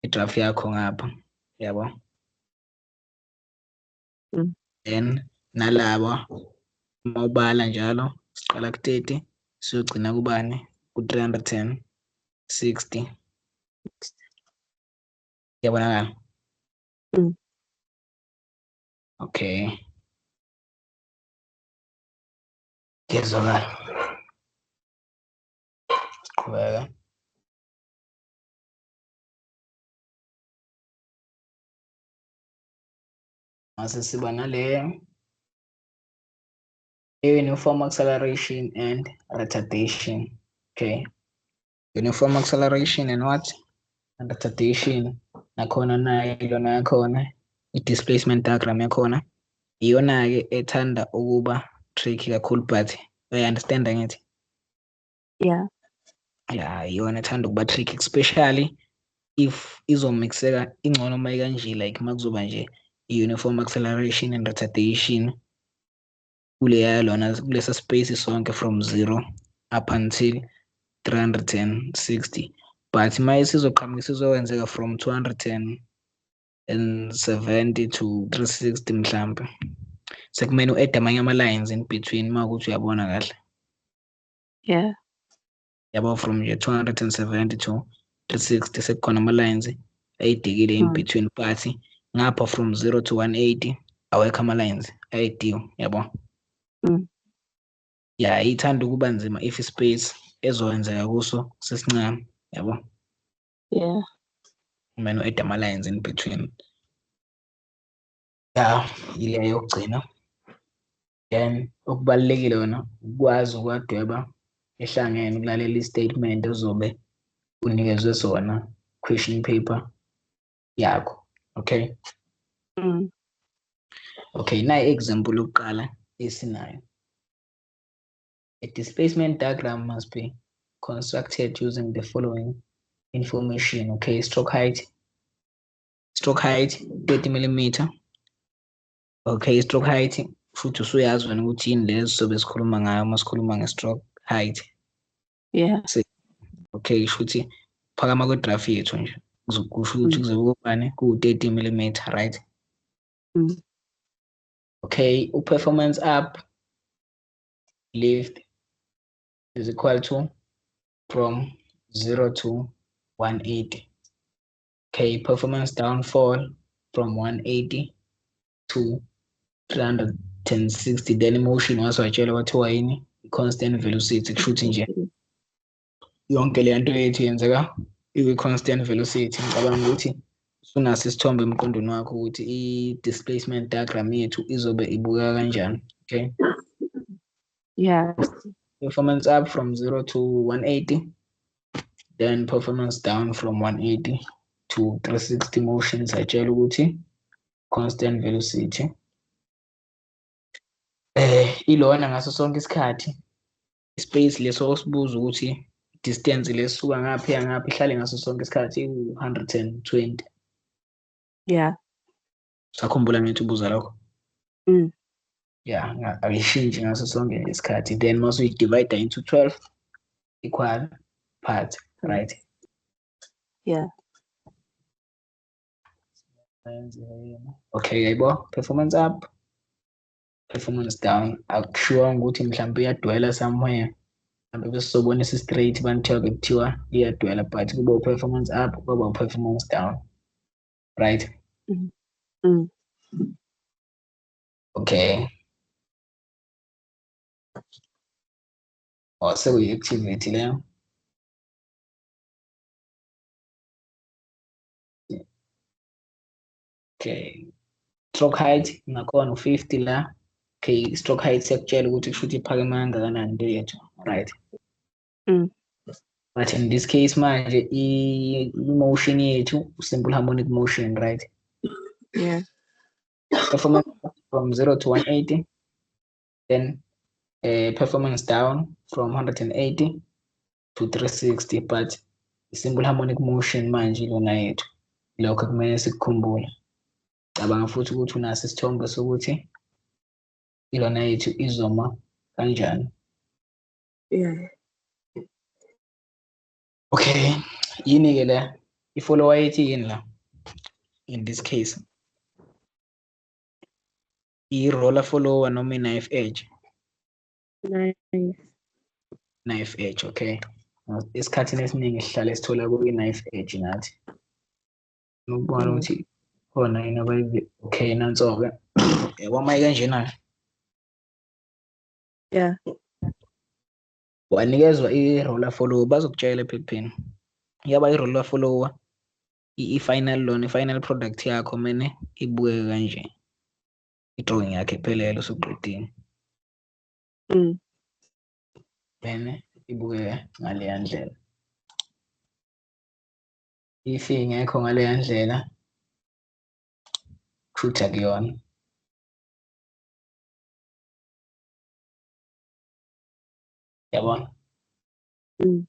idraft yakho ngapha yabo mm. then nalaba uma ubala njalo siqala ku-30 siyogcina kubani ku-310 60 yabonakala mm. okay ngezwakala siqhubeka mase siba naleyo uniform acceleration and retardation okay uniform acceleration and what and retardation nakhona nayo ilona yakhona i-displacement diagram yakhona iyona-ke ethanda ukuba tricky kakhulu but uyayi-understanda ngithi yeah ya iyona ethanda ukuba trick especially if izomixeka ingcono uma ikanje like uma kuzoba nje i-uniform acceleration and retardation kuleya lona kulesa space sonke from zero up until 360 but uma isizoqhamuka isizokwenzeka from 270 to 360 mhlampe sekumele u-add amanye ama-lines in between uma ukuthi uyabona kahle Yeah. yabo from year 270 to 360 sekukhona ama-lines ayidikile in Mm. between but ngapha from 0 to 180 awekho ama-lines ayidiwe yabo Mm. ya ithanda ukuba nzima if space ezokwenzeka kuso sesincane yabo Yeah. kumele u-add ama-lines in between ya yileyo yokugcina then okubalulekile wena ukwazi ukwadweba ehlangene ukulalela istatement ozobe unikezwe sona question paper yakho okay mm. okay nayi example yokuqala esinayo a displacement diagram must be constructed using the following information okay stroke height stroke height 30 millimeter Okay, stroke height futhi usuyazi wena ukuthi yini lezo sobe sikhuluma ngayo uma sikhuluma nge-stroke height. Yeah. Okay, shuthi phakama kwe-graph yethu nje. Kusho ukuthi mm. kuzobe kubani ku-30 mm, right? Mm. Okay, u-performance up lift is equal to from 0 to 180. Okay, performance downfall from 180 to 360 then motion waze watshela kwathiwa yini i-constant velocity kusho ukuthi nje yonke le nto yethu yenzeka ikwi-constant velocity ngicabanga ukuthi usunaso isithombe emqondweni wakho ukuthi i-displacement diagram yethu izobe ibukeka kanjani okay yeah performance up from 0 to 180 then performance down from 180 to 360 motion sayitshela ukuthi constant velocity eh ilona ngaso sonke isikhathi space leso osibuza ukuthi distance lesuka ngaphi yangaphi ihlale ngaso sonke isikhathi iwu-120 yeah sakhumbula ngithi ubuza lokho mm. ya ayishintshi ngaso sonke isikhathi then mase uyidivide into 12 equal part mm. right yeah okay yayibo performance up performance down akushiwa ukuthi mhlawumbe uyadwela somewhere mhlawumbe besizobonisa straight banithiwa bekuthiwa iyadwela but kuba u-performance up kwaba u-performance down right mm. Mm. okay oh sekuyi-activity leyo okay stroke height ngakhona u-50 la okay stroke height sekutshela ukuthi kusho ukuthi iphakeme kangakanani into yethu right Mm. But in this case manje i-motion yethu simple harmonic motion, right? Yeah. Performance from 0 to 180, then uh, performance down from 180 to 360, but simple harmonic motion manje lona yethu. Lokho kumele sikukhumbule. Cabanga futhi ukuthi unaso isithombe sokuthi ilona yethu izoma kanjani. yeah okay yini ke la i-follower ethi yini la in this case i-roller follower noma i-knife edge knife knife edge okay esikhathini esiningi sihlale sithola kwi-knife edge ngathi ukubona mm. ukuthi khona yini abayivi okay nanso-ke yaboma kanjena-ke yeah wanikezwa i-roller follower bazokutshela ephepheni yaba i-roller follower i-final lona i-final product yakho mene ibukeke kanje i-drawing yakhe iphelele usuqedile mm. mene ibukeke ngaleya ndlela if ingekho ngaleya ndlela kushuthi akuyona yabona mm.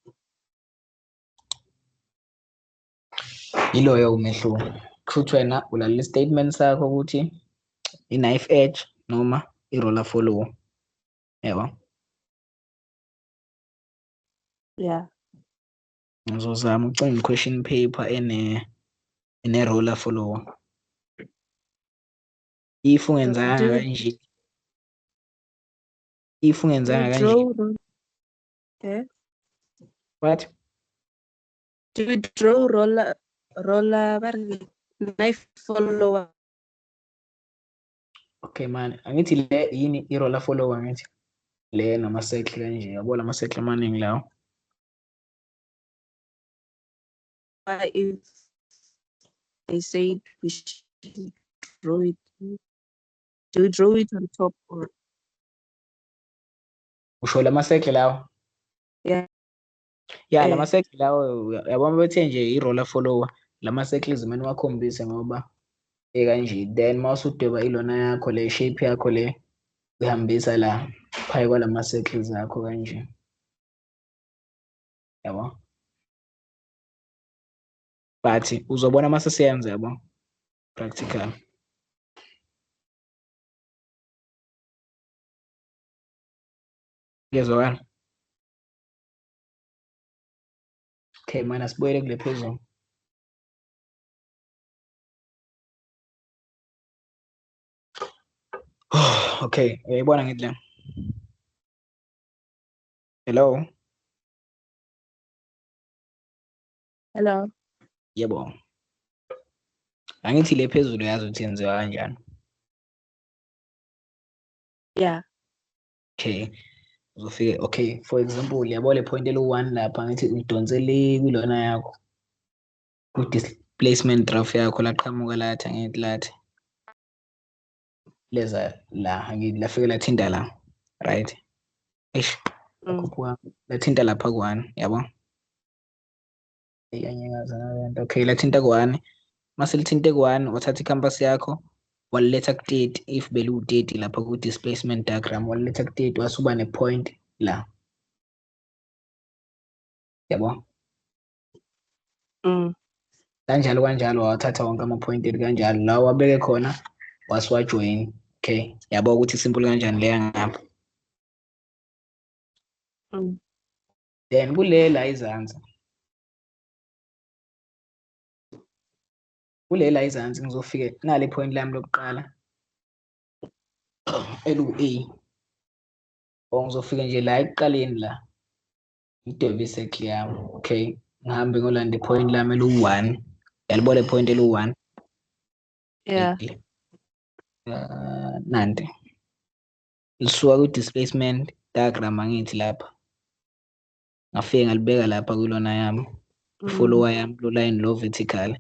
yiloyo umehluko kushuthi wena ulalela i-statement sakho ukuthi i-knife edge noma i-roller follow yebo yeah ngizozama ukucinga i-question paper ene ene-roller follow if ungenzanga Draw. kanje if ungenzanga kanje Draw road. Eh? what Do we draw roller roller ba re ke knife follower? okay man angithi le yini i-roller follower ngithi le nama-circle kanje yabo lama-circle amaningi lawo why if they said we should draw it? Do we draw it on top or? Usho lama circle lawa. Yeah. Yeah, eh. lama circle lawa yabona bethe nje i roller follower lama circles mina wakhombise ngoba ekanje then mawusudweba ilona yakho le shape yakho le uyihambisa la phakathi kwalama circles akho kanje. Yabo? but uzobona uma sesiyenza yabo practical ngezwakala okay mana sibuyele kule phezulu okay uyayibona ngithi le hello Hello. Yebo. Angithi le phezulu yazi ukuthi yenziwa kanjani. Yeah. Okay. Uzofike okay for example yabo le point elu-1 lapha ngithi udonse le kulona yakho. Ku-displacement graph yakho laqhamuka lathi angithi lathi. leza la angithi lafike lathinta la right eish mm. khuphuka lathinta lapha kuwani yabo eyanyakaza nalento okay lathinta kuwani mase lithinte kuwani wathatha i-campus yakho waliletha ku-30 if beliwu-30 lapha ku-displacement diagram waliletha ku-30 wasuba ne-point la yabo mm. kanjalo kanjalo wawathatha wonke ama-appointed kanjalo la wabeke khona wasiwajoyini okay yabo ukuthi simple kanjani leya ngapha mm. then kule la izansi kule la izansi ngizofike nale point lami lokuqala elu-a or ngizofike nje la ekuqaleni la ngidwebe i-circle yami okay ngihambe ngolanda i-point lami eliwu-one yalibona i-point eliwu-one yeah. uh, nanti lisuka kwi-displacement diagram angithi lapha ngafike ngalibeka lapha kulona yami mm. follower yami lo line lo vertical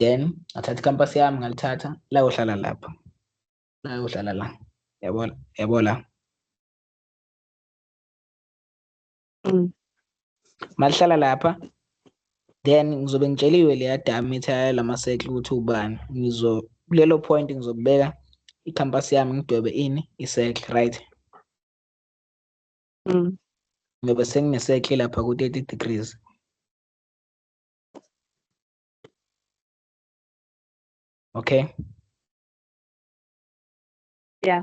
then ngathatha icampus yami ngalithatha layohlala lapha layohlala la yabona yabo la Mm. Malihlala lapha then ngizobe ngitsheliwe leya dami ethi ayo lama circle ukuthi ubani ngizo kulelo point ngizobeka i-campus yami ngidwebe ini i-circle right mm. ngiyobe sengine-circle lapha ku-30 degrees okay yeah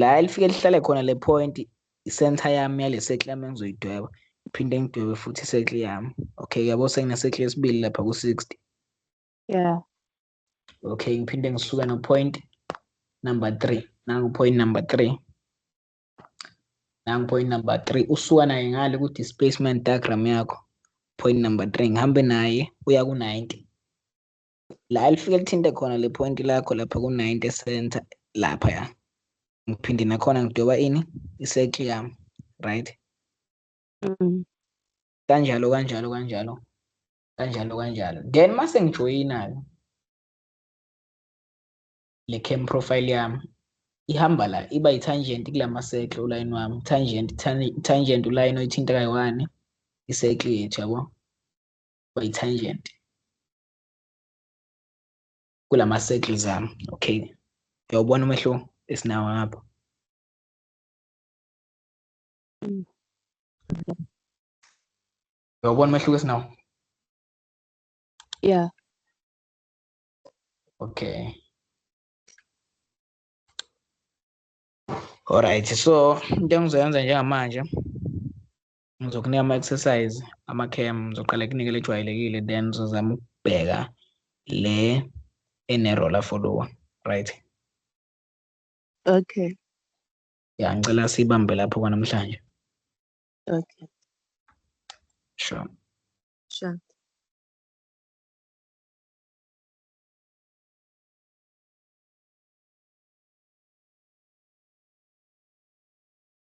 la elifike lihlale khona le point i-center yami yale circle yami engizoyidweba iphinde ngidwebe futhi i-circle yami okay yabo sengine-circle yesibili lapha ku-sixty yeah okay ngiphinde ngisuke no-point number three nangu-point number three nangu-point number three usuka naye ngale ku-displacement diagram yakho point number three ngihambe naye uya ku-ninety la elifike lithinte khona le point lakho lapha ku-90 center lapha ya ngiphinde nakhona ngidweba ini isekli yami right mm. kanjalo kanjalo kanjalo kanjalo kanjalo then mase ngijoyina-ke le cam profile yami ihamba la iba yi-tangent kula masekle ulayini wami tangent tangent ulayini oyithintekayo wani isekle yethu yabo by tangent kulama circles ami okay uyawubona umehluko esinawo ngapha uyawubona umehluko esinawo yeah okay Alright, so into engizoyenza njengamanje Ngizokunika ama-exercise ama-cam ngizoqala kunike lejwayelekile then uzozama ukubheka le ene-roller follower right okay ya ngicela sibambe lapho kwanamhlanje okay sure sure